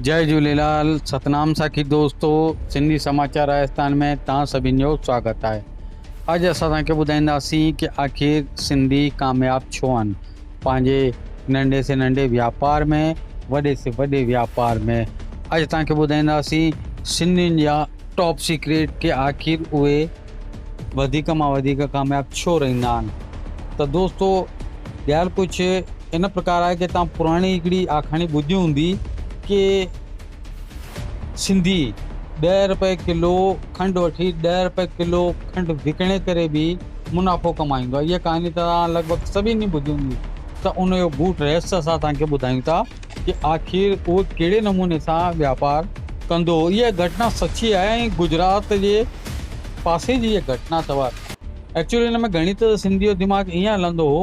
جئه جهوليلال ستنام ساکي دوستو سنڌي سماچار راجستان ۾ توهان سڀين جو سواگت آهي اڄ اسان توهان کي ٻڌائينداسين ڪي آخر سنڌي ڪامياب ڇو آهن پنهنجي ننڍي سي ننڍي واپار ۾ وڏي سي وڏي واپار ۾ اڄ توهان کي ٻڌائينداسين سنڌين جا ٽاپ سيڪريٽ ڪي آخر اهي وڌيڪ مان وڌيڪ ڪامياب ڇو رهندا آهن ته دوستو ٻيال ڪجهه ان پرڪار آهي ڪي توهان پراڻي هڪڙي آکاڻي ٻڌي هوندي ڪي سنڌي ڏهه رپئي ڪلو کنڊ وٺي ڏهه رپئي ڪلو کنڊ وڪڻي ڪري به منافعو ڪمائيندو آهي اها ڪهاڻي ته توهان لڳ ڀڳ سڀني ٻڌي هوندي ته ان جو گوٺ رهست اسان توهان کي ٻڌايون ٿا ڪي آخر اهو ڪهڙي نموني سان واپار ڪندو هو اها گهٽنا سچي آهي ۽ گجرات جي پاسي جي اها گهٽنا اٿو ايڪچوئلي ان ۾ گهڻي ته سنڌي جو دماغ ائين هلندو هو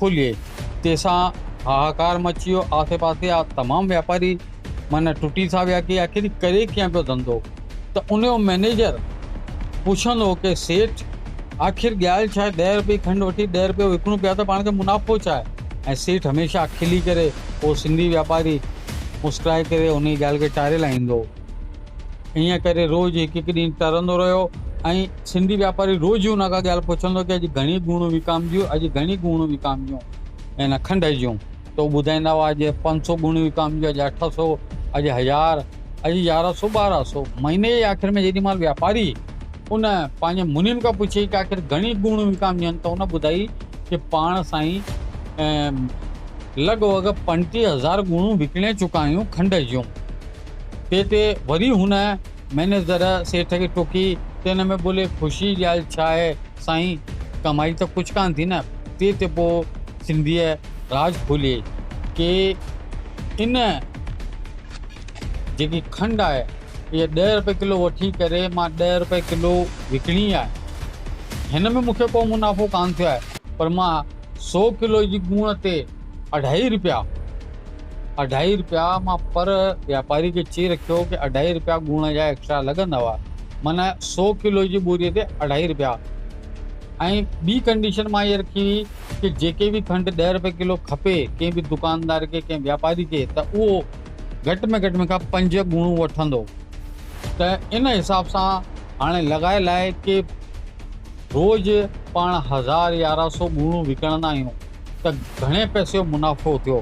کلي تي سان هاهاڪار مچي ويو آسي پاسي جا تمام واپاري معنيٰ ٽٽي سا ويا ڪي آخر هي ڪري ڪيئن پيو ڌنڌو ته ان جو مئنيجر پڇندو هو ڪي سيٺ آخر ڳالهه ڇا آهي ڏهه رپئي کنڊ وٺي ڏهه رپئي وڪڻون پيا ته پاڻ کي منافعو ڇا آهي ۽ سيٺ هميشه کلي ڪري اهو سنڌي واپاري مسڪرائي ڪري انهي ڳالهه کي ٽاري لائيندو هو انهيء ڪري روز هڪ هڪ ڏينهن ٽرندو رهيو ۽ سنڌي واپاري روز ئي ان کان ڳالهه پڇندو ڪي اڄ گهڻيون ڳوڻيون وڪامجيون، اڄ گهڻيون ڳوڻيون وڪامجيون ان کنڊ جون ته هو ٻڌائيندا هئا اڄ پنج سؤ ڳوڻيون وڪامجيون، اڄ اٺ سؤ، اڄ هزار، اڄ يارهن سؤ ٻارهن سؤ. مهيني جي آخر ۾ جيڏي مهل واپاري ان پنهنجي منهن کان پڇيائين ڪي آخر گهڻيون ڳوڻيون وڪامجن ته ان ٻڌائي ڪي پاڻ سائين لڳ ڀڳ پنجٽيهه هزار ڳوڻيون وڪڻي چڪا آهيون کنڊ جون. تنهن تي وري هن مئنيجر سيٺ کي ٽوڪي ته ان ۾ ٻولي خوشيء جي ڳالهه ڇا آهي سائين، ڪمائي ته ڪجهه ڪانه ٿي نه. تنهن تي پوء سنڌيء راز کولي ڪي ان جيڪي کنڊ آهي اها ڏهه رپئي ڪلو وٺي ڪري مان ڏهه رپئي ڪلو وڪڻي آهي. هن ۾ مون کي ڪو منافعو ڪانه ٿيو آهي پر مان سو ڪلو جي ڳوڻ تي اڍائي رپيا اڍائي رپيا مان پر واپاري کي چئي رکيو ڪي اڍائي رپيا ڳوڻ جا ايڪسٽرا لڳندؤ معنيٰ سو ڪلو جي ٻوري تي اڍائي رپيا ۽ ٻي ڪنڊيشن مان اها رکي هئي ڪي جيڪي به کنڊ ڏهه رپئي ڪلو کپي ڪنهن به دڪاندار کي ڪنهن واپاري کي ته اهو گهٽ ۾ گهٽ مون کان پنج ڳوڻون وٺندو ته ان حساب سان هاڻي لڳايل آهي ڪي روز پاڻ هزار يارهن سو ڳوڻون وڪڻندا آهيون ته گهڻي پئسي جو منافعو ٿيو.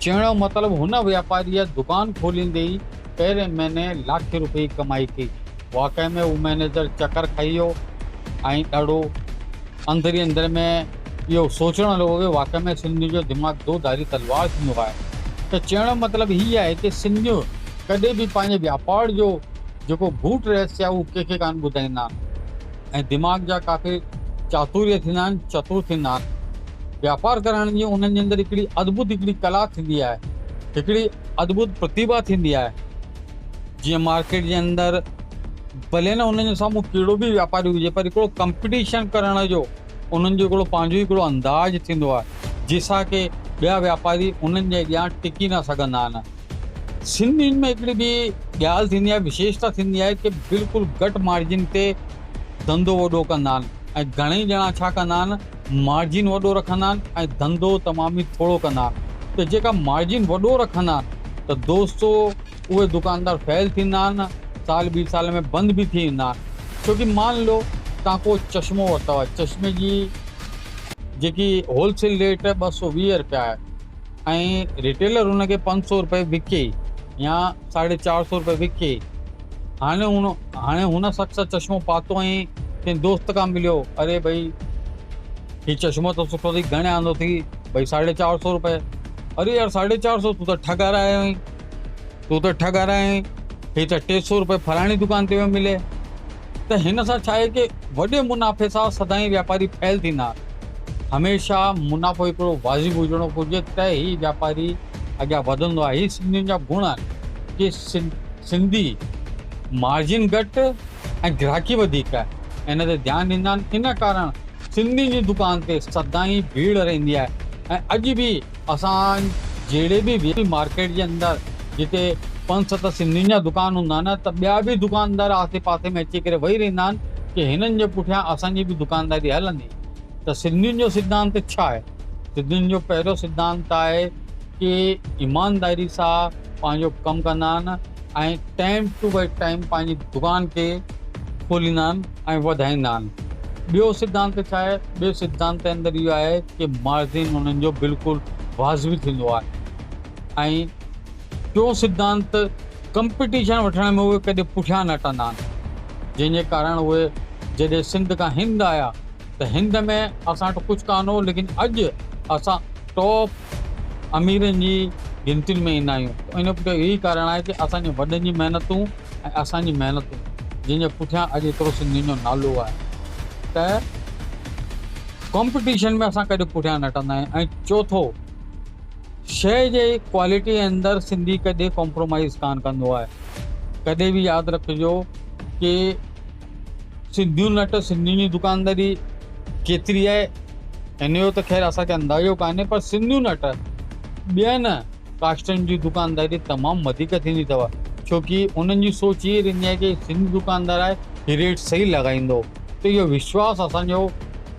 چوڻ جو مطلب هن واپاريء دڪان کوليندي ئي پهرين مهيني لاکين روپيه جي ڪمائي ڪئي. واقعي ۾ هو مئنيجر چڪر کائي ويو ۽ ڏاڍو اندر ئي اندر ۾ اهو سوچڻ لڳو ته واقعي ۾ سنڌين جو دماغ دو ڌاري تلوار ٿيندو آهي. ته چوڻ جو مطلب هي آهي ته سنڌيون ڪڏهن به پنهنجي واپار جو جيڪو گهوٽ رهسي آهي اهو ڪنهن کي ڪانه ٻڌائيندا آهن. ۽ دماغ جا ڪافي چاتوريا ٿيندا آهن، چتور ٿيندا آهن. واپار ڪرڻ جي انهن جي اندر هڪڙي ادڀت هڪڙي ڪلا ٿيندي آهي، هڪڙي ادڀت پرتيڀا ٿيندي آهي. جيئن مارڪيٽ جي اندر ڀلي نه انهن جي سامهون ڪهڙو به واپاري هجي پر هڪڙو ڪمپٽيشن ڪرڻ جو انهن جو هڪڙو پنهنجو ئي هڪڙو انداز ٿيندو آهي، جنهن سان ڪي ٻيا واپاري انهن جي اڳيان ٽڪي نه سگهندا آهن. سنڌين ۾ هڪڙي ٻي ڳالهه ٿيندي آهي وشيشتا ٿيندي آهي ڪي بلڪل گهٽ مارجن تي ڌنڌو وڏو ڪندا آهن ۽ گهڻئي ڄڻا ڇا ڪندا آهن مارجن وڏو رکندا آهن ۽ ڌنڌو تمام ئي ٿورو ڪندا آهن ته جيڪا مارجن وڏو رکندا آهن ته دوستو اهي دڪاندار فيل ٿيندا آهن سال ٻي سال ۾ بند به ٿي ويندا آهن ڇوڪي مان لو تهان ڪو چشمو ورتو آهي چشمي جي جيڪي هول سيل ريٽ ٻه سؤ ويهه رپيا آهي. ۽ ريٽيلر ان کي پنج سؤ روپئي وڪي يا ساڍي چار سؤ روپئي وڪي هاڻي هن هاڻي هن شخص چشمو پاتو ۽ ڪنهن دوست کان مليو اري ڀئي هي چشمو ته سٺو اٿئي گهڻي آندو اٿئي ڀئي ساڍي چار سؤ روپئي اري يار ساڍي چار سؤ تون ته ٺڳ هرايو آهين تون ته ٺڳ آهين، هي ته ٽي سؤ روپيه فلاڻي دڪان تي ويو ملي. ته هن سان ڇا آهي ڪي وڏي منافعي سان سدائين واپاري فيل ٿيندا آهن. هميشه منافعو هڪڙو واضح هجڻو گهرجي ته هي واپاري اڳيان وڌندو آهي. هي سنڌين جا گڻ آهن ڪي سنڌي مارجن گهٽ ۽ گراهڪي وڌيڪ ان تي ڌيان ڏيندا آهن. ان ڪارڻ سنڌين جي دڪان تي سدائين ڀيڙ رهندي آهي ۽ اڄ به اسان جهڙي به وي پي مارڪيٽ جي اندر جتي پنج ست سنڌين جا دڪان هوندا آهن ته ٻيا به دڪاندار آسي پاسي ۾ اچي ڪري وهي رهندا آهن ڪي هنن جي پٺيان اسان جي به دڪانداري هلندي ته سنڌين جو سڌانت ڇا آهي سنڌين جو پهريون سڌانت آهي ڪي ايمانداري سا پنهنجو ڪم ڪندا آهن ۽ ٽائيم ٽو ٽائيم پنهنجي دڪان کي کوليندا آهن. ۽ وڌائيندا آهن. ٻيو سڌانت ڇا آهي؟ ٻئي سڌانت جي اندر اهو آهي ته مارجن انهن جو بلڪل واضبي ٿيندو آهي ۽ ٽيون سڌانت ڪمپٽيشن وٺڻ ۾ اهي ڪڏهن پٺيان نه هٽندا آهن جنهن جي ڪارڻ اهي جڏهن سنڌ کان هند آيا ته هند ۾ اسان وٽ ڪجهه ڪانه هو ليڪن اڄ اسان ٽاپ اميرن جي گنتين ۾ ايندا آهيون ان جو پٺيان اهو ئي ڪارڻ آهي ته اسان جي وڏن جي محنتون ۽ اسان جي محنتون جنهن جي پٺيان اڄ ايترو سنڌين جو نالو آهي ته ڪمپٽيشن ۾ اسان ڪڏهن پٺيان نه هٽندا آهيون ۽ چوٿو شيء جي ڪوالٽي اندر سنڌي ڪڏهن ڪمپرومائيز ڪانه ڪندو آهي ڪڏهن به ياد رکجو ڪي سنڌيون نٽ سنڌين جي دڪانداري ڪيتري آهي هن جو ته خير اسان کي اندازو ڪانهي پر سنڌيون نٽ ٻين ڪاشتن جي دڪانداري تمام وڌيڪ ٿيندي اٿو ڇوڪي انهن جي سوچ ائين رهندي آهي ڪي سنڌي دڪاندار آهي هي ريٽ صحيح لڳائيندو ته اهو وشواس اسان جو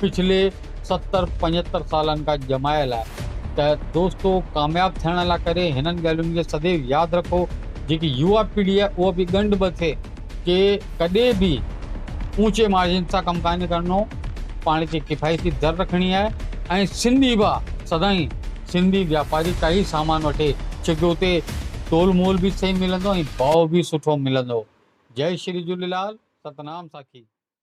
پڇلي ستر پنجهتر سالن کان ڄمايل آهي ته دوستو ڪامياب ٿيڻ لا ڪري هنن ڳالهين کي سديو ياد رکو جيڪي يوا پيڙهي آهي اها به ڳنڍ به ٿئي ڪي ڪڏي به اوچي مارجن سان ڪم ڪانهي ڪرڻو پاڻ کي ڪفايتي در رکڻي آهي ۽ سنڌي ڀا سدائين سنڌي واپاري ڪاهي سامان وٺي ڇوڪه اتي تول مول به صحيح ملندو ۽ ڀاء به سٺو ملندو جئي شري جهوليلال ستنام ساکي.